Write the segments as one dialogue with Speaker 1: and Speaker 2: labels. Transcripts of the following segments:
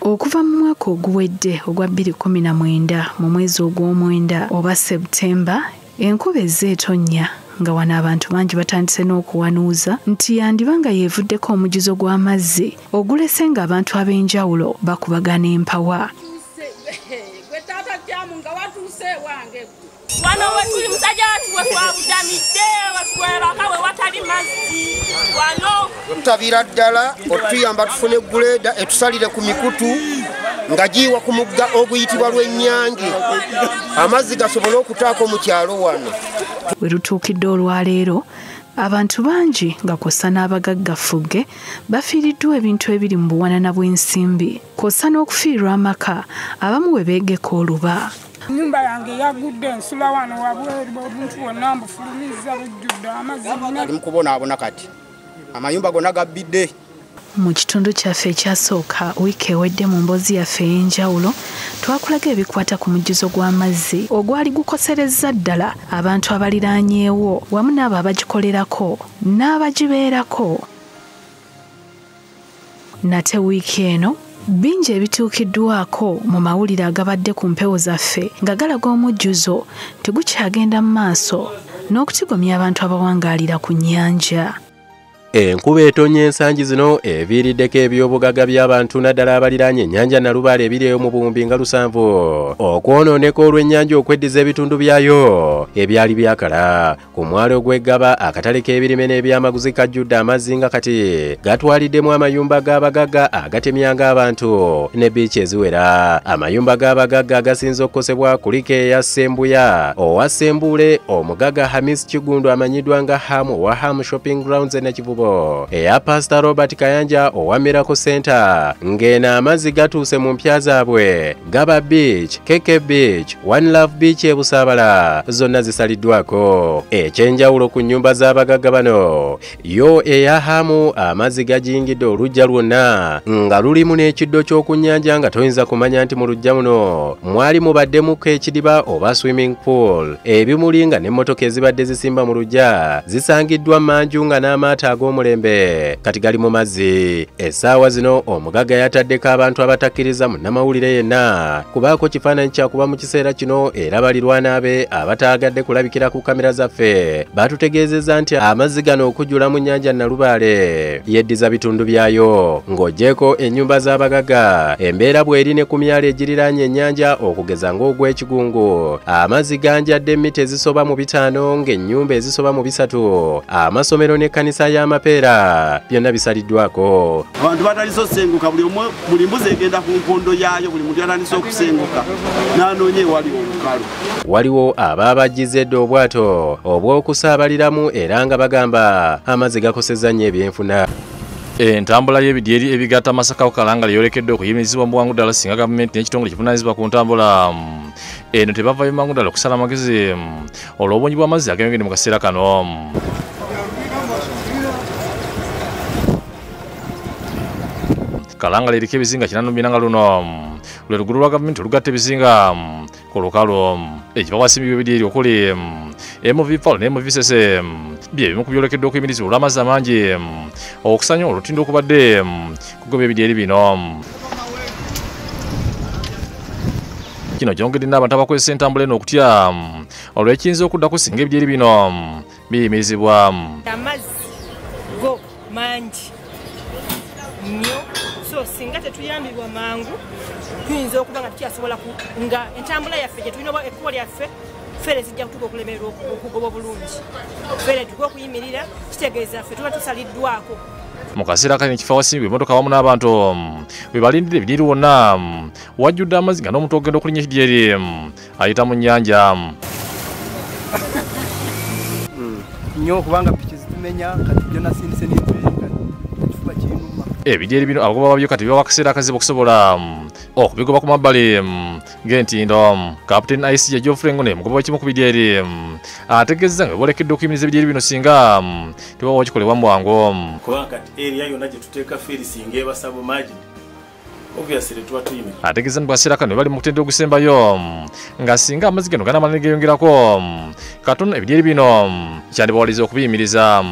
Speaker 1: Okuva mu mwaka oguwedde ogwa 2019 mu mwezi ogw'omwenda oba September, enkuba ezze etonnya nga wano abantu bangi batandise n'okuwanuuza nti yandiba nga yeevuddeko omujuzo gw'amazzi ogulese ng'abantu ab'enjawulo bakubagana empawa.
Speaker 2: wano wetuli musajja watu wetwabudamidde wetwebaka wewatali mazzi wano tutabira ddala
Speaker 3: otuyamba tufune guleeda etusalire ku mikutu nga giiwa ku mugga oguyitibwa lw'ennyange amazzi gasobole okutaako mu kyalo wano we lutuukidde
Speaker 1: olwaleero abantu bangi nga kwossa n'abagagga ffugge bafiiriddwa ebintu ebiri mu buwanana bw'ensimbi kwossa n'okufiirwa amaka abamu we beegeka oluba Nyumba yange
Speaker 4: yagudde nsula wano wabweru obuntu bwonna mbufulumizza bujjudde amazzi ali mukubonaabona
Speaker 3: kati amayumba gonna gabbidde mu kitundu
Speaker 1: kyaffe ekyasooka wiiki ewedde mu mboozi yaffe ey'enjawulo twakulaga ebikwata ku mujjuzo gw'amazzi ogwali gukoserezza ddala abantu abaliraanyeewo wamu n'abo abagikolerako n'abagibeerako nate wiiki eno bingi ebituukiddwako mu mawulire agabadde ku mpewo zaffe nga galaga omujjuzo nti gukyagenda mu maaso n'okutigomya abantu abawangaalira ku nnyanja enkuba
Speaker 5: etonnya ensangi zino eviiriddeko ebyobugagga by'abantu naddala abaliraanye ennyanja nalubaale ebiri eyo mu buwumbi nga lusanvu okwonooneka olw'ennyanja okweddiza ebitundu byayo ebyali byakala Ku mwalo gw'eggaba akatale k'ebirime n'ebyamaguzi kajjudde amazzi nga kati gatwaliddemu amayumba g'abagagga agatemyanga abantu ne biiki eziwera amayumba g'abagagga agasinze okukosebwa kuliko eya ssembuya owa ssembuule omugagga hamis kigundu amanyiddwa nga hamu owa hamu shopping grounds e nakivubo eya pasita robert kayanja owa miracle center ng'eno amazzi gatuuse mu mpya zaabwe Gaba Beach, KK Beach, One Love Beach e Busaabala zonna zisaliddwako. Ekyenjawulo ku nnyumba z'abagagga bano yo eya Hamu amazzi gajingidde oluggya lwonna nga lulimu n'ekiddo ky'oku nnyanja nga toyinza kumanya nti mu luggya muno mwali mubaddemuko ekidiba oba swimming pool. Ebimuli nga n'emmotoka ezibadde zisimba mu luggya zisangiddwa manju nga n'amaato ag'omulembe kati gali mu mazzi. Essaawa zino omugagga yataddeko abantu abatakkiriza munnamawulire yenna kubaako kifaananyi kyakuba mu kiseera kino era balirwana be abataagadde kulabikira ku kamera zaffe baatutegeezezza nti amazzi gano okujula mu nnyanja Nalubaale yeddiza bitundu byayo ng'ogyeko ennyumba z'abagagga embeera bw'eri ne ku myalo egiriraanye ennyanja okugeza ng'ogw'ekigungu amazzi ganjadde mita ezisoba mu bitaano ng'ennyumba ezisoba mu bisatu amasomero n'ekkanisa y'amapeera byonna bisaliddwako abantu batandise
Speaker 6: okusenguka buli omu buli mbuzi egenda ku nkondo yaayo buli muntu yatandise okusenguka n'anoonya ewali olukalu waliwo
Speaker 5: abaabajjiza edda obwato obw'okusaabaliramu era nga bagamba amazzi gakosezza nnyo ebyenfuna entambula
Speaker 7: y'ebidyeri ebigatta masaka ku kalangala yolekedde okuyimirizibwa mu bwangu ddala singa gavumenti n'ekitongole kivunanyizibwa ku ntambula eno tebavayo mangu ddala okusala amagezi olw'obungi bw'amazzi ageyongedde mu kaseera kano kalangala eriko ebizinga kinanu binanga luno lwe lugulu lwa gavumenti olugatta ebizinga ku lukalu ekiva wasimbibwa ebiri eri okuli mv pal ne mv sese bye bimu ku byolekeddwa okuyimirizibwa olw'amazzi amangi okusanya olutindo okubadde kugoba ebidyeri bino kino kyongedde n'abantu abakozesa entambula eno okutya olwekiyinza okuddako singa ebidyeri bino biyimirizibwa amazzi
Speaker 2: go mangi nnyo so singa tetuyambibwa mangu tuyinza okuba nga tukyasobola nga entambula yaffe gyetulina oba ekkubo lyaffe fere zijja kutuka okulemererwa okugoba obulungi fere tuka okuyimirira kitegeeza ffe tuba tusaliddwako mu kaseera
Speaker 7: kali nekifo awasimba emotoka awamu n'abantu mm, webalindira ebiniri wonna mm, wajjudde amazzi nga n'omuntu ogenda okulinya ekidyeri mm, ayita mu nnyanja nyo
Speaker 8: kubanga piki zitumenya kati byo nasindise nekifuba kinuma ebidyeri bino abagoba
Speaker 7: babyo kati bibawa akaseera akazibu okusobola okubigoba ku mabbali ng'entindo captain ic ya geoffrey ngune mugoba wakimu ku bidya eri ategeezza nga bebolekedde okuyimiriza ebidya eri bino singa tebawa wakikolebwa mu bwangu kubanga kati
Speaker 9: eriya yonna gye tuteeka feeri singa ebasaba magi ategeeza nti bwaseera kano
Speaker 7: bali mu kutendera ogusembayo nga singa amazzi gano ganamala ne geeyongerako katon ebidyeri bino kyandibawaliza okubiyimiriza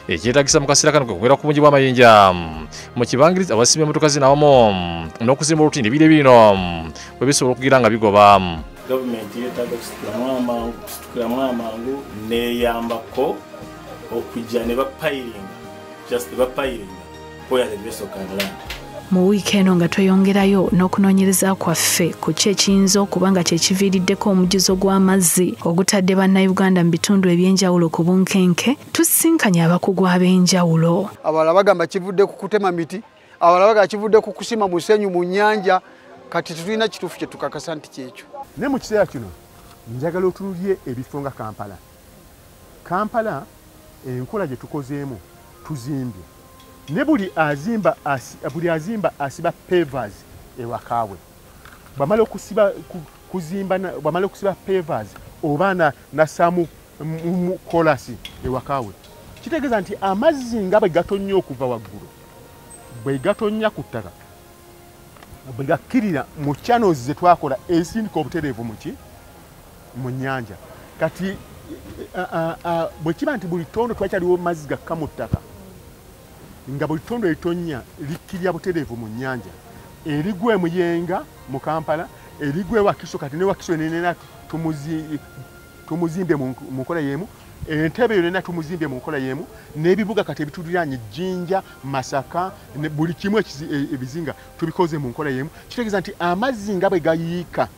Speaker 7: ekyetagisa mu kaseera kano kwekumira ku bungi bw'amayinja mu kibangirizi abasimba emmotoka zinawamu n'okuzimba olutindo ebire bino bwe bisobola okugira nga bigoba gavumenti
Speaker 9: yetaaga kusitukiramu amangu neyambako okujja ne bapayiringa just bapayiringa mu wiiki eno
Speaker 1: nga tweyongerayo n'okunoonyereza kwaffe ku ki ekiyinza okuba nga kye kiviiriddeko omujjuzo gw'amazzi ogutadde bannayuganda mu bitundu eby'enjawulo ku bunkenke tusisinkanye abakugu ab'enjawulo abalala bagamba
Speaker 10: kivudde ku kutema miti abalala bagamba kivudde ku kusima musenyu mu nnyanja kati tetulina kituufu kye tukakasa nti kyekyo naye mu kiseera kino
Speaker 11: njagala otunulye ebifo nga kampala Kampala enkola gyetukozeemu tuzimbye ne buli azimba asi, buli azimba asiba pavers ewakaawe bamala okusiba kuzimba bamala okusiba pavers oba na nasamu kolasi ewakaawe kitegeeza nti amazzi nga bwe gatonnya okuva waggulu bwe gatonnya ku ttaka bwe gakkirira mu channels ze twakola ezisindika obutereevu muki mu nnyanja kati bwe kiba nti buli ttondo twakyaliwo mazzi gakka mu ttaka nga buli ttondo eritonnya likkirira butereevu mu nnyanja erigwa emuyenga mu kampala erigwa ewakiso kati newakiso nenena tumuzimbye mu nkola y'emu entebe yo nena tumuzimbye mu nkola y'emu n'ebibuga kati ebituliraanye jjinja masaka buli kimu e, ebizinga tubikoze mu nkola y'emu kitegeeza nti amazzi nga bwe gayiika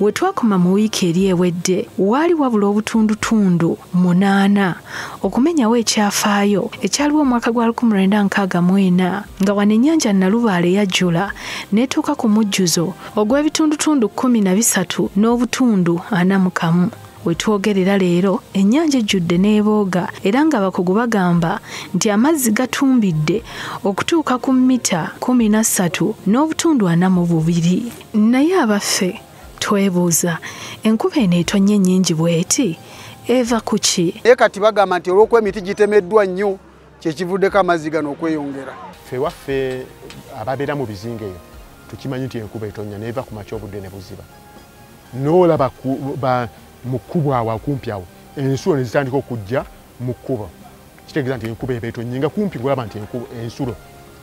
Speaker 12: We twakoma
Speaker 1: mu wiiki eri ewedde waali wabula obutundutundu munaana okumenyawo ekyafaayo ekyaliwo omwaka gwa 1964 nga wano ennyanja Nalubaale yajjula n'etuuka ku mujjuzo ogw'ebitundutundu 13 n'obutundu ana mu kamu. We twogerera leero ennyanja ejjudde n'ebooga era ng'abakugu bagamba nti amazzi gatumbidde okutuuka ku mita 13 n'obutundu ana mu bubiri. naye abaffe twebuuza enkuba eno etonye nyingi bweti eva kuki naye kati bagamba nti
Speaker 10: olwokuba emiti gitemeddwa nnyo kyekivuddeko amazzi gano okweyongera fe waffe
Speaker 11: ababeera mu bizinga eyo tukimanyi nti enkuba etonya neeva ku makya obudde ne buziba noolaba mu kkubo awo akumpi awo ensulo ne zitandika okujja mu kkubo kitegeeza nti enkuba eba etonye nga kumpi ngolaba nti ensulo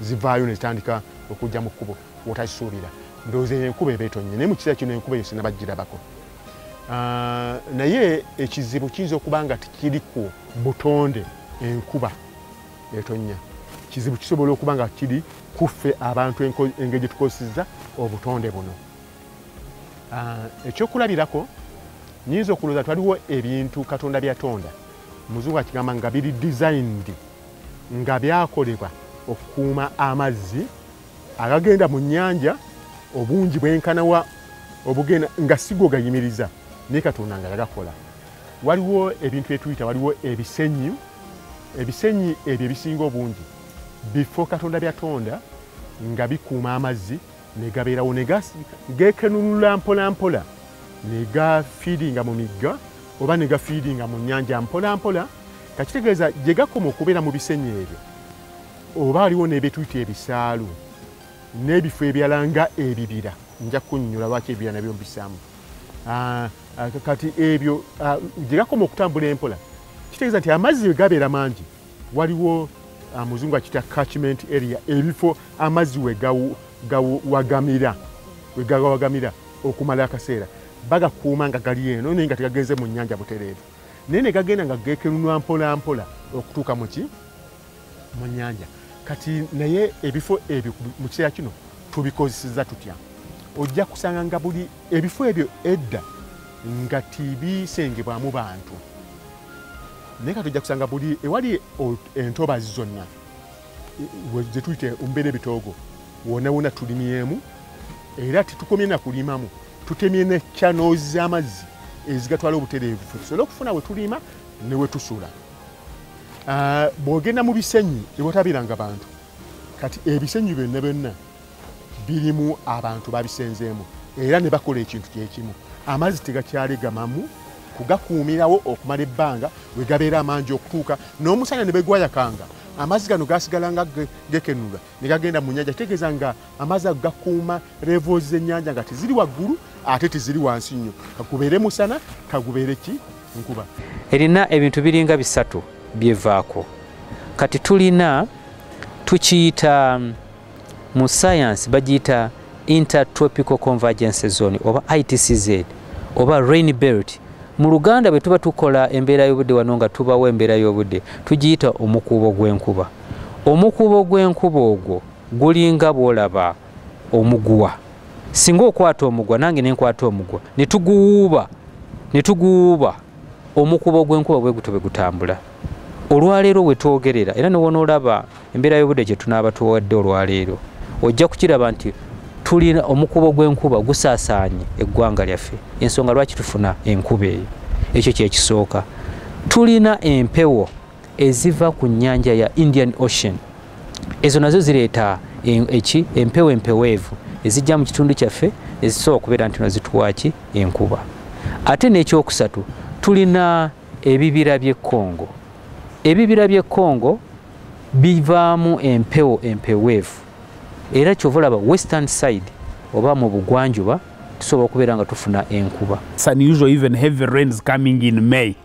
Speaker 11: zivaayo ne zitandika okujja mu kkubo wotakisuubira ndowooza eyo enkuba eba etonnye naye mu kiseera kino enkuba eyo sinabagirabako ah, naye ekizibu kiyinza okuba nga tikiri ku butonde enkuba etonnya kizibu kisobola okuba nga kiri kuffe abantu engeri gye tukozeseza obutonde buno ah, ekyokulabirako nyinza okulowooza twaliwo ebintu katonda byatonda muzungu akigamba nga biri designed nga byakolebwa okukuuma amazzi agagenda mu nnyanja obungi bwenkana wa obugenda nga sigo gayimiriza naye katonda nga yagakola waliwo ebintu etuyita waliwo ebisenyi ebisenyi ebyo ebisinga obungi bifo katonda byatonda nga bikuuma amazzi negabeerawo gekenunula mpolampola negafiiringa mu migga oba negafiiringa mu nyanja mpolampola kakitegeeza gyegakoma okubeera mu bisenyi ebyo oba aliwo nebetuyita ebisaalu n'ebifo ebyala nga ebibira nja kunyonyola lwaki ebibira nabyo mbisamu ah, ah, kati ebyo ah, gyegakoma okutambula empola kitegeeza nti amazzi wegabeera mangi waliwo muzungu akita catchment area ebifo amazzi wegawagamira wegawagamira okumala akaseera bagakuuma nga gali eno naye nga tegagenze mu nyanja butereevu naye negagenda nga gekenunwa mpolampola okutuuka muki mu nyanja kati naye ebifo ebyo mu kiseera kino tubikozeseza tutya ojja kusanga nga buli ebifo ebyo edda nga tibisengebwamu bantu naye kati ojja kusanga buli ewali entobazi zonna zetuyita ombeera ebitoogo wona wona tulimyemu era tetukomye nakulimamu tutemye ne channels z'amazzi ezigatwala obutereevu tusobole okufuna we tuliima ne we tusula Ah, bwogenda mu bisenyi ewatabiranga bantu kati ebisenyi byonna byonna birimu abantu babisenzeemu era ne bakola ekintu kyekimu amazzi tegakyalegamamu kugakuumirawo okumala ebbanga we gabeera amangi okutuuka n'omusana ne begwayakanga amazzi gano gasigalanga gekenula ne gagenda mu nyanja kitegeeza nga amazzi ago gakuuma levels z'ennyanja nga teziri waggulu ate teziri wansi nnyo kagubeere musana kagubeere ki nkuba erina ebintu
Speaker 13: biringa bisatu byevaako kati tulina tukiyita mm, mu sayansi bagiyita intertropical convergence zone oba itcz oba rain belt mu luganda bwe tuba tukola embeera y'obudde wano nga tubawo embeera y'obudde tugiyita omukuubo gw'enkuba omukuubo gw'enkuba ogwo gulinga bw'olaba omuguwa singa okwata omugwa nange ne nkwata omugwa ne tuguwuuba ne tuguwuuba omukuubo gw'enkuba bwe gutyo bwe gutambula olwaleero we twogerera era ne wonoolaba embeera y'obudde gye tunaaba tuwadde olwaleero ojja kukiraba nti tulina omukubo gw'enkuba gusaasaanye eggwanga lyaffe ensonga lwaki tufuna enkuba eyo ekyo kyekisooka tulina empewo eziva ku nnyanja ya indian ocean ezo nazo zireeta eki empewo empeweevu ezijja mu kitundu kyaffe ezisobola okubeera nti nazituwaki enkuba ate n'ekyokusatu tulina ebibira by'e congo ebibira by'e congo bivaamu empewo empeweevu era kyova olaba western side oba mu bugwanjuba tusobola okubeera nga tufuna
Speaker 12: enkuba